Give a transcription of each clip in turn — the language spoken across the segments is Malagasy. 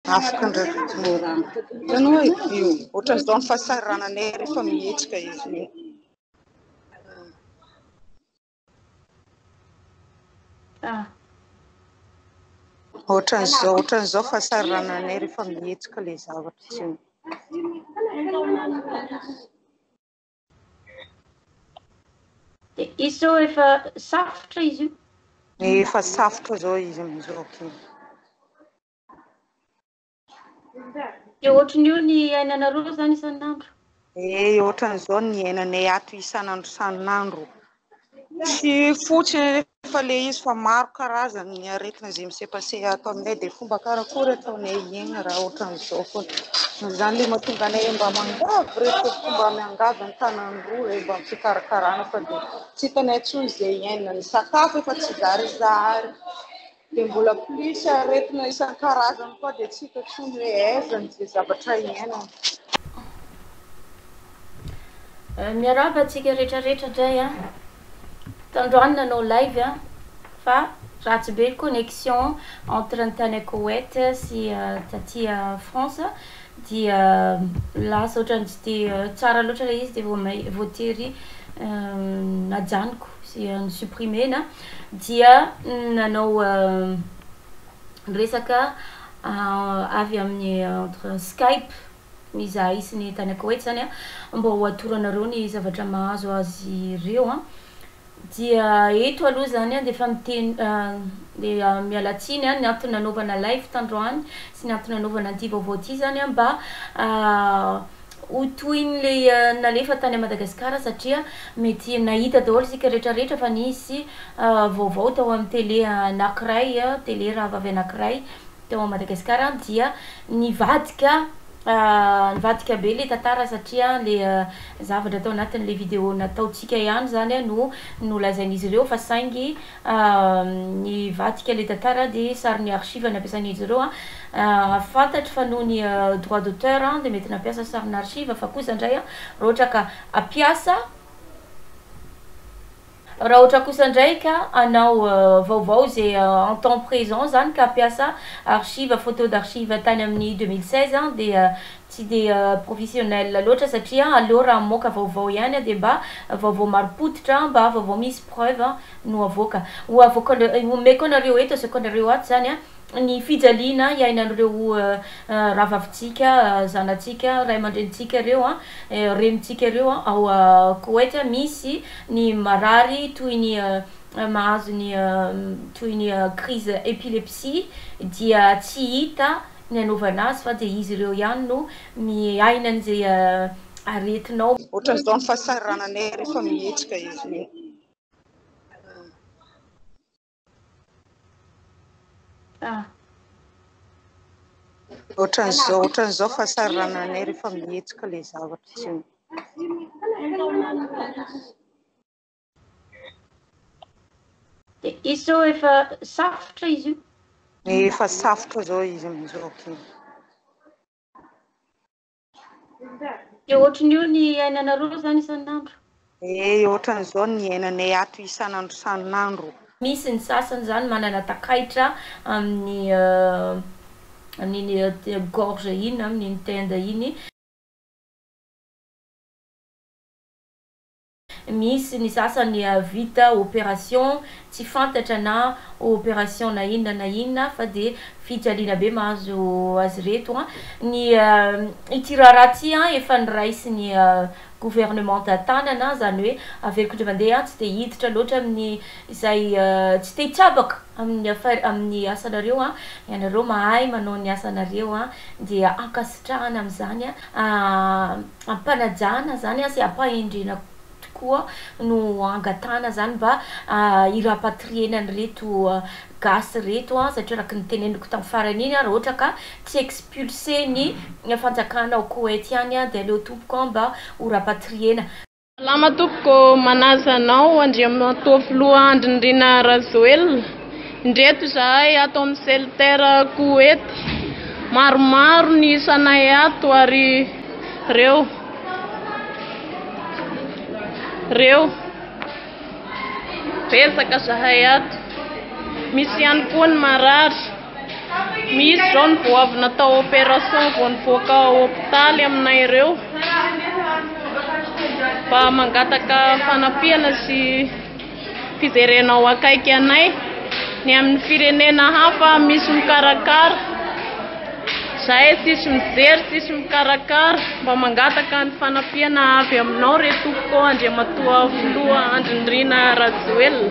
Afaka ndraiky ny rano. Hitanao hoe io, ohatran'izao ny fahasahirananay rehefa mihetsika izy io. Ohatran'izao, ohatran'izao fahasahirananay rehefa mihetsika ilay zavatra tsy eo. Dia izy izao efa safotra izy io. Efa safotra izao izy amin'izao. Dia ohatran'io ny iainanareo izany isan'andro? Eh, ohatran'izao ny iainanay ato isan'andro isan'andro. Tsy fotsiny anefa ilay izy fa maro karazany ny aretina izay misepaseha ato aminay dia fomba karakory ataonay hiaina raha ohatran'izao foana. Izany ilay mahatonga anay mba miangavy ireto mba miangavy ny tanany roa hoe mba am-pikarakarana fa dia tsy hitanay intsony izay iainany. Sakafo efa tsy zarizary. Dia mbola plus aretina isan-karazany koa dia tsy hita intsony hoe aiza ny izay zavatra iainana. Miarahaba antsika rehetra rehetra indray a. Tandroany nanao live a fa ratsy be connexion entre ny tany Koweït sy taty France. dia lasa otrany tsy de tsara loatra ilay izy de vao may voatery najanoko sy no supprimer-na dia nanao resaka avy amin'ny entre skype izahay sy ny tany ankawetz zany a mba ho atoronareo ny zavatra mahazo azy ireo a. Dia eto aloha izany dia efa miteny dia miala tsiny ny antony nanaovana live tandroany sy ny antony nanaovana an'ity vaovao ity izany mba ho tohin'ilay nalefa tany Madagasikara satria mety nahita daholo isika rehetra rehetra fa nisy vaovao tao amin'ny tele anankiray, tele rahavavy anankiray. Teo Madagascar dia nivadika nivadika be le tantara satria le zavatra tao anatiny le video nataontsika ihany zany no nolazain'izy ireo fa saingy nivadika le tantara de sary ny archive nampiasain'izy ireo a fantatro fa noho ny droit d'auteur de mety nampiasa sarin'archive fa kosa ndray raha ohatra ka hampiasa Raha ohatra kosa indray ka hanao vaovao ze en temps présent zany ka hampiasa archive photo d'archive tany amin'ny deux mille seize dia tsy dia professionnel loatra satria aleo raha hamoaka vaovao ihany dia mba vaovao marim-pototra mba vaovao misy preuve no avoaka. Ho avoakanareo, homeko anareo eto, asehoako anareo ato zany ny fijaliana iainan'ireo rahavavintsika, zanatsika, ray aman-drenintsika ireo, renintsika ireo ao Koweït. Misy ny marary toy ny mahazo ny toy ny crise epilepsie dia tsy hita ny anaovana azy fa dia izy ireo ihany no miaina an'izay aretinao. Ohatran'izao ny fahasahirananay rehefa mihetsika izy ireo. Ah. Ohatran'izao, ohatran'izao fahasarana anay rehefa mihetsika ilay zavatra tsy Dia izao efa safotra izy io. Efa safotra izao izy amin'izao. Dia ohatran'ny io ny iainanareo izany isan'andro? Ee, ohatran'izao ny iainanay ato isan'andro isan'andro. Misy ny sasany izany manana takaitra amin'ny amin'iny gorge iny na amin'iny tenda iny. Misy ny sasany vita operation tsy fantatra na operation na inona na inona fa dia fijaliana be mahazo azy ireto an! Ny ity raharaha ity an efa noraisin'ny gouvernementa tanana izany hoe averiko indray mandeha an! Tsy dia hiditra loatra amin'ny izay tsy te hitsabaka amin'ny affaire amin'ny asanareo an! Ianareo mahay manao ny asanareo an! Dia ankasitrahana amin'izany an! ampanajana zany sy ampahendrena tokoa no angatahana zany mba hi rapatrier na an'ireto gasy reto satria araka ny teneniko tam farany iny raha ohatra ka tsy expulser ny fanjakana ao Koety ihany dia aleo tompoko mba ho rapatrier-na. Salama tompoko, manaja anao Andriamatoa Filoha Andry Nirina Rajoelina. Indreto izahay ato amin'ny Celter Koety. Maromaro ny isanay ato ary reo. Reo. Betsaka zahay ato. Misy ihany koa ny marary. Misy izao ny goavy natao opération vao nivoaka ao hopitaly aminay ireo mba mangataka fanampiana sy fijerena ao akaiky anay ny amin'ny firenena hafa misy mikarakara zahay tsisy mijery tsisy mikarakara mba mangataka ny fanampiana avy aminao re tompoko andriamatoa filoha andry nirina rajoelina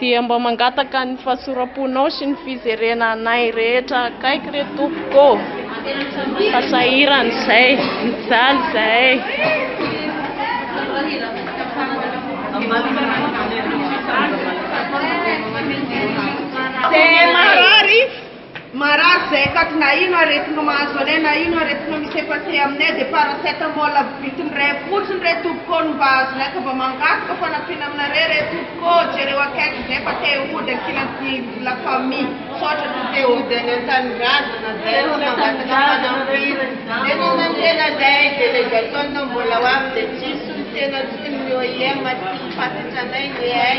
Dia mba mangataka ny fahasoram-ponao sy ny fijerena anay rehetra akaiky re tompoko ô! Fa sahirana izay, mijaly izahay. Marary izay akaty na ino aretina mahazo anay na ino aretina misepaseha aminay dia paracetamol avy vitin iray fotsiny re tompoko ô ny mba azonay ka mba mangataka fanampiana aminareo re tompoko ô jereo akaiky izay fa te hody ankilan'ny la famille misaotra tompoko te hody any antanindrazana izay fa mangataka fanampiana dia manantena izay délégation no mbola ho avy dia tsisy ny tena tsy ny OIM tsy ny fahatratranay ny hay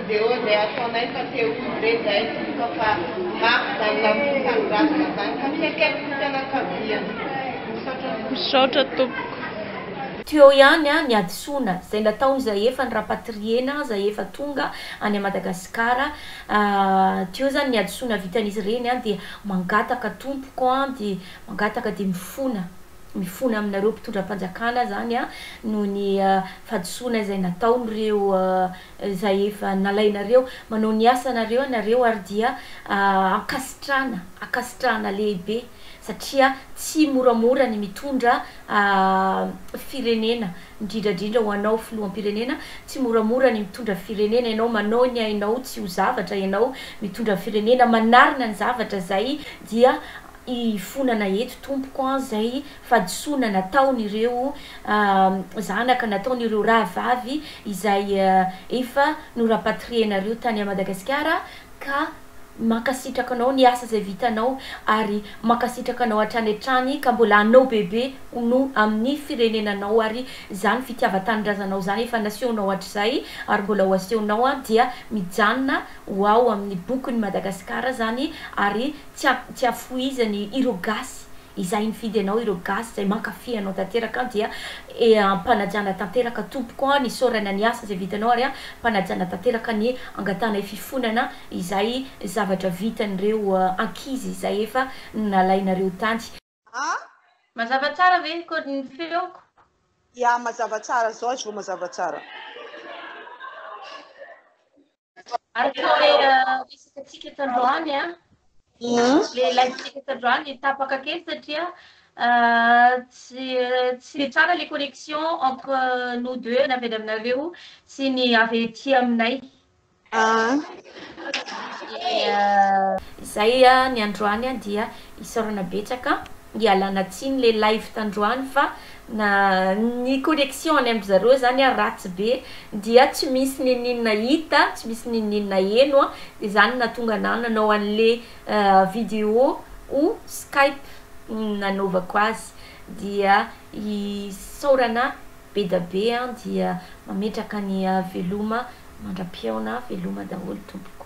Dia hoy izay ataonay fa te ho izy re izahay tsy hita fa mafy izany lamosy hanoratana izany ka fiaikaiky ny fianakaviany. Misaotra tompoko. Misaotra tompoko. Tuyau ihany ny hadisoana izay nataony izay efa ny rapatriena izay efa tonga any à Madagascar tuyau zany ny hadisoana vitan'izy ireny dia mangataka tompoko dia mangataka dia mifona mifona aminareo mpitondram-panjakana zany noho ny fahadisoana izay nataony ireo izay efa nalainareo, manao ny asanareo ianareo ary dia ankasitrahana, ankasitrahana lehibe satria tsy moramora ny mitondra firenena, indrindra indrindra ho anao filoham-pirenena, tsy moramora ny mitondra firenena, ianao manao ny ainao tsy ho zavatra, ianao mitondra firenena, manarina ny zavatra izay dia hifonana eto tompoko an, izay. fahadisoana nataon'ireo zanaka nataon'ireo rahavavy izay efa norapatrienareo tany Madagasikara ka mankasitraka anao ny asa izay vitanao ary mankasitraka anao hatrany hatrany ka mbola hanao bebe no amin'ny firenenanao ary izany fitiavan-tanindrazanao izany efa nasehonao hatrizay ary mbola ho asehonao dia mijanona ho ao amin'ny bokin'i Madagasikara izany ary tsy tsy hafohizan'ireo gasy Izay nifidy anao ireo gasy izay mankafy anao tanteraka an dia eh ampanajana tanteraka tompoko an isaorana ny asa izay vitanao ary ampanajana tanteraka ny angatahana fifonana izay zavatra vitan'ireo ankizy izay efa nalainareo tany. An? Mazava tsara ve ko ny feoko? Ya mazava tsara zao izy vao mazava tsara. Araka ilay resaka tsika tandroany a, ilay live tsika tandroany tapaka kely satria tsy tsy dia tsara ilay connexion entre nous deux na avy any aminareo sy ny avy aty aminay. Izay ny androany dia Isaorana betsaka ialana tsiny le live tandroany fa na ny connexion any amin-dry zareo zany ary ratsy be dia tsy misy ninininona hita tsy misy ninininona heno dia zany nahatonga anah nanao anle video ho skype nanaovako azy dia isaorana bedabe an dia mametraka ny veloma mandra-pihaona veloma daholo tompoko.